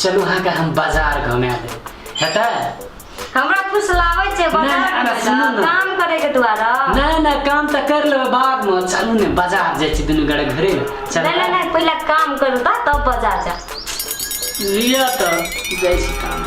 चलू अहाँके हम बाजार घुमा देब हेतै हमरा कुछ लावे छै बाजार नहि, अरे में सुनू ना। काम करे के द्वारा नहि नहि काम तऽ कर लेबै बादमे चलू ने बाजार जाइ छी दुनू गोरे घरे नहि चल नहि नहि पहिले काम करू तऽ तब बाजार जा लिअ तऽ जाइ छी काम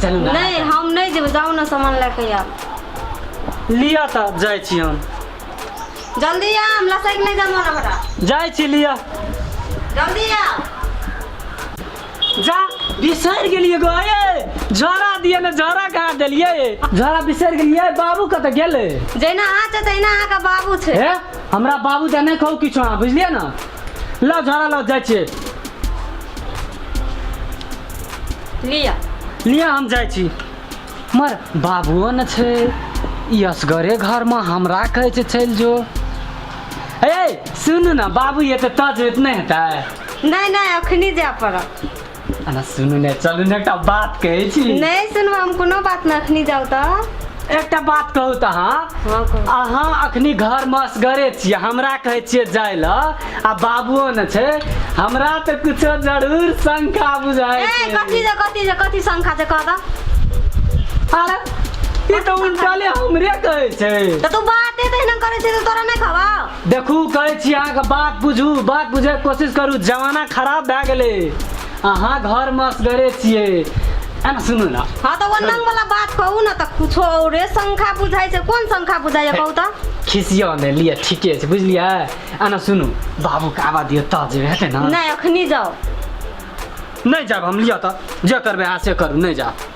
चलू ने अहाँ नहि सब हम नहि जेबै जाउ ने सामान लए कऽ आयब लिअ तऽ जाइ छी हम जल्दी आ हम लसैक नहि देब मने हमरा जाइ छी लिअ जल्दी आ जा बिसरि गेलियै गऽ यै झोड़ा दिअ ने झोड़ा कहाँ देलियै झोड़ा बिसरि गेलियै बाबू कतऽ गेलै जहिना अहाँ छै तहिना अहाँके बाबू छै हे हमरा बाबू दे नहि कहू किछो अहाँ बुझलियै ने लाउ झाड़ा लाउ जाइ छियै लिया लिया हम जाइ छी मर बाबुओ ने छै ई असगरे घरमे हमरा कहै छै चलि जो ए सुनू ने बाबू एतऽ तज नहि हेतै नहि नहि अखनी जाय पड़त अना सुनू ने चलू ने एकटा बात कहै छी नहि सुनू हम कोनो बात नहि अखनी जाउ तऽ एकटा बात कहू तऽ अहाँ हँ कहू अहाँ अखनी घर में असगरे छियै हमरा कहै छियै जाय ल आ बाबुओ ने छै हमरा तऽ कुछो जरूर शंका बुझाय ए छै कथी जे कथी जे कथी शंखा जे कह दऽ अरे ई तऽ उल्टाले हमरे कहै छै तऽ तू बाते तहिना करै छै तऽ तोरा नहि खबा देखू कहै छी अहाँके बात बुझू बात बुझैके कोशिश करू जमाना खराब भए गेलै अहाँ घरमे असगरे छियै एना सुनू ने हँ तऽ ओ नंगवला बात कहू ने तऽ कुछो औरे संख्या बुझाइ छै कोन संख्या बुझाइए कहू तऽ खिसिया नहि लिअ ठीके छै बुझलियै एना सुनू बाबूके आबा दियौ तऽ जे हेतै ने नहि अखनी जाउ नहि जायब हम लिअ तऽ जे करबै अहाँ से करू नहि जायब